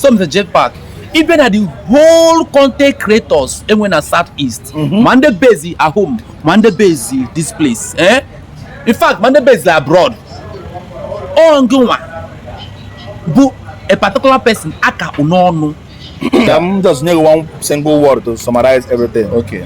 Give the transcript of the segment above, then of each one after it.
some the JPAC ị bịa na the whole content creators e nwe na south east mhm. ma ndị base at home ma ndị base this place eh? in fact ma ndị base abroad ọ ngịnwa bụ a particular person aka n'ọnụ I'm just need one single word to summarize everything. Okay.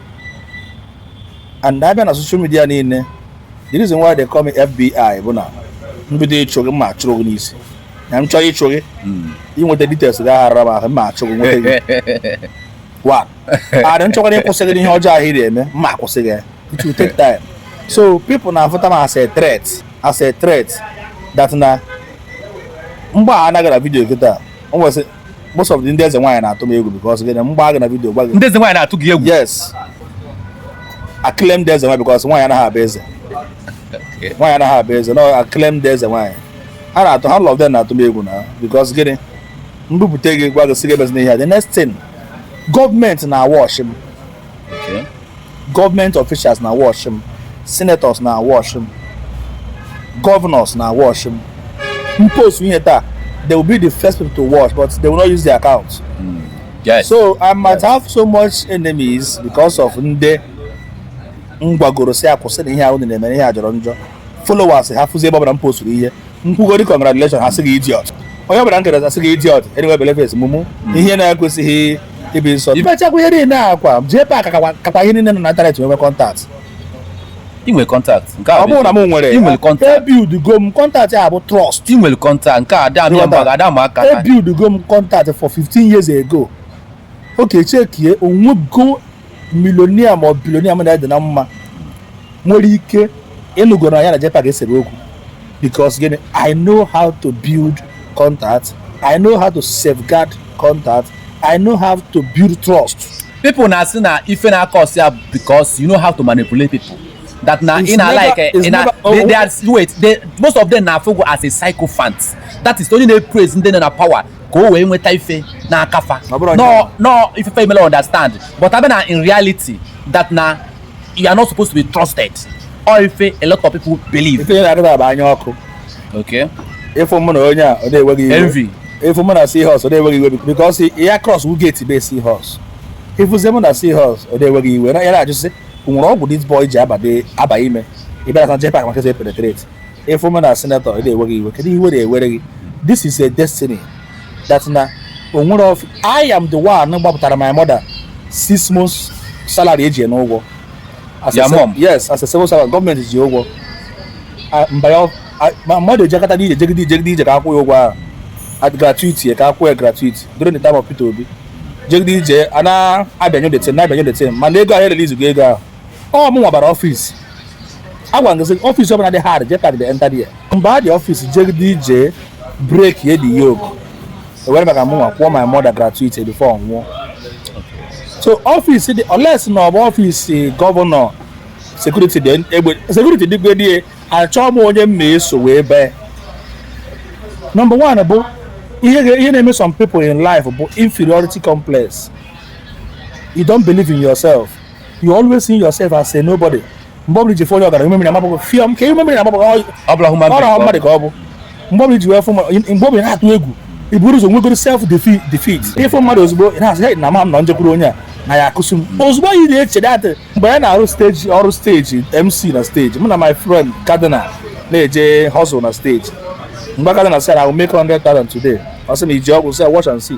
and a bịa na social media niile the reason why they call me FBI bụ na m bido ịchụ gị ma achụru gị n'isi na m chọrọ ịchụ gị inweta details gị aghara m ahụ ma achụ gị nweta gị one adị m chọkwa na ịkwụsị gị n'ihe ọjọọ ahụ ị na-eme ma akwụsị gị it will take time so people na-afụta m as a threat as a threat that na m gbaana gị na video kịta o nwesị most of the ndị eze nwaanyị na-atụ m egwu because gịnị m gbaa gị na video gwa gị ndị eze nwaanyị na-atụ gị egwu yes acclaimed eze nwaanyị because nwaanyị anaghị abụ eze nwaanyị anaghị abụ eze no acclaimed eze nwaanyị ha na-atụ half of them na-atụ m egwu na because gịnị m bupụta gị gwa gị sị gị emezina ihe a the next thing government na-awatch m government officials na-awatch m senators na-awatch m governors na-awatch m m post ihe taa they will be the first people to watch but they will not use their account mm. yes. so i might yes. have so much enemies because of ndị m gwagoro sị ha kwụsị na ihe a unu na-eme ihe a jọrọ njọ followers ha fụzi ebe ọbụla m postụrụ ihe m kwugodi congratulation ha sị gị idiot onye ọbụla nkere a sị gị idiot anyway belefes mụmụ ihe na-ekwesịghị ịbụ nsọ ibechakwa ihe niile akwa JPAC kakwa ihe niile nọ na internet nwebe contact inwe contact nke ọ bụrụ na m nwere i nwere contact ebuildigo m contact a bụ trust i nwere contact nke a dị amịa mba ga-ada m aka ebuildigo m contact for 15 years ago okay checkie o nwego millionaire ma ọ billionaire mụ na ya dị na mma nwere ike ịnụgo na ya na JPAC esere okwu because gịnị I know how to build contact I know how to safeguard contact I know how to build trust people na-asị na ife na-acause ya because you know how to manipulate people that na It's in a never- like eh, it's in a never- oh, they, they are wait they, most of them na-afụ gị as a sycophant that is only na praise ndị nọ na power ka o wee nweta ife n'aka fa no ifefe imela understand but a bịa na in reality that na you are not supposed to be trusted or ife a lot of people believe ife na-adịba bụ anya ọkụ okay ị fụ mụ na onye a ọ na-ewe gị iwe envy ị fụ mụ na Seahorse ọ na-ewe gị iwe because ya cross wu gate be Seahorse ị fụzie mụ na Seahorse ọ na-ewe gị iwe ya na-ajụ sị o nwere ọgwụ this boy ji abanye ime ị bịara na JPAC maka penetrate ị fụ m na senetọ ọ na-ewe gị iwe kedu ihe were ewere gị this is a destiny that na o nwere of i am the one gbapụtara my mother six months salary e ji ya n'ụgwọ As a Your se- mom? yes as a civil servant gọọmenti ji ya ụgwọ Ah, mba ya ah, my mother ejekọta n'ije jegide ije jegide ije ka a kwụọ ya ụgwọ ahụ at gratuity ka a kwụọ ya gratuity during the time of Peter Obi jegide ije a na-abịanyụ the thing na-abịanyụ the thing mana ego ahụ erelizighị ego ahụ ọ mụnwa bara ọfịs a gwara gị ọfịs ọbụla dị hard jee tagide enta dị ya mgbe a dị ọfịs jegide ije break ye the yoke e were maka mụnwa kwụọ my mother gratuity before ọ nwụọ so ọfịs dị unless na ọ bụ ọfịs gọvanọ sekuriti ji egbe sekuriti dịgwe dị ya achọọ m onye m na-eso wee baa nọmba one bụ ihe ga- ihe na-eme some people in life bụ inferiority complex you don't believe in yourself you always see yourself as a nobody mgbe ọbụla i ji fụ onye ọgaranya umemiri amapụ gị fịọm ka umemiri amapụ gị ọ ọbụla hụ mmadụ ọrọ mmadụ ka ọ bụ mgbe ọbụla i ji wee fụ ma- mgbe ọbụla ị na-atụ egwu ị buru ụzọ nwegoro self defi- defeat ị fụ mmadụ ozugbo ị na-asị "Hey, na ma m na m jekwuru onye a na ya akụsụ m ozugbo anyị na-eche datị mgbe anyị na-arụ steji ọrụ steji mc na steji mụ na my friend cardinal na-eje hustle na steji m gwa cardinal sị na I will make 100,000 today ọ sị na i ji ọgwụ sị watch and see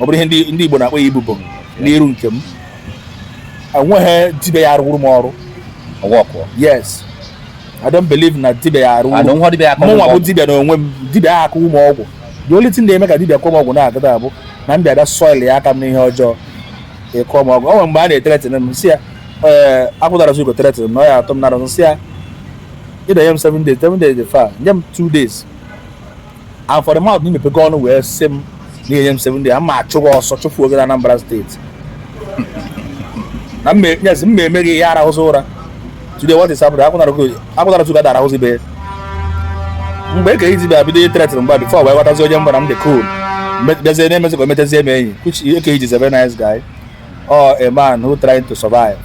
ọ bụrụ ihe ndị Igbo na-akpọ ya ibobo n'iru nke m enweghị dibia ya-arụrụ m ọrụ yes I don't believe na dibia ya-arụ mụnwa bụ dibia n'onwe m dibia ya akụwu m ọgwụ the only thing na-eme ka dibia kụọ m ọgwụ na-agada abụ na m bịa bịa soilia aka m n'ihe ọjọọ ị kụọ m ọgwụ ọ nwere mgbe a na-e-threaten m sị ya ee akwụdara zugo threaten m na ọ ya-atụ m n'ara sị ya ị da-enye m 7 days 7 days dị far nye m 2 days and for the mouth na i mepego ọnụ wee sị m na i nye m seven days ama achụ gị ọsọ chụfuo gị na Anambra steeti na yes m na-eme gị ihe arahụzi ụra today what is happening akwụnara tuga dara ahụzi be mgbe ka izi bịa bido i-threaten m mgbe ahụ bifo o wee ghọtazi onye mbara m dị cool bịazie na-emezi ka o metazie m enyi which Eke Hit is a very nice guy or a man who trying to survive,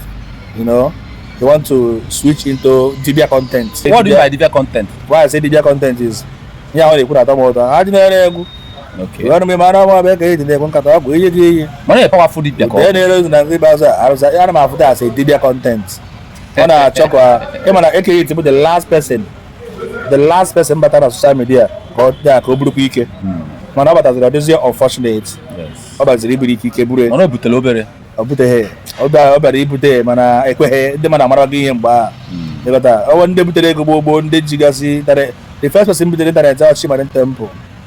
you know, you want to switch into Dibia content. What do you mean by Dibia content? Why I say Dibia content is, yeah, when they put at all, I didn't know. Okay. Wani mai mana ma bai kai dinde kun ka ta ku yi yi. Mana ya powerful dibia ko. Dai ne na ngi ba sa arsa ya ma futa sai dibia content. Wana chokwa e mana e kai tibu the last person. The last person batara social media ko da ko buru ku ike. Mana batara this is unfortunate. Yes. ọ bịaziri iburu ike ike buru ya mana o butere obere ọ buteghị ya. ọ bịa- ọ bịara ibute ya mana ekweghị ndị mmadụ amarago ihe mgbe ahụ ị ghọta ọ wa ndị butere ego gboo gboo ndị jigasị tara the first person butere ịntanetị ahụ Chi Marine Temple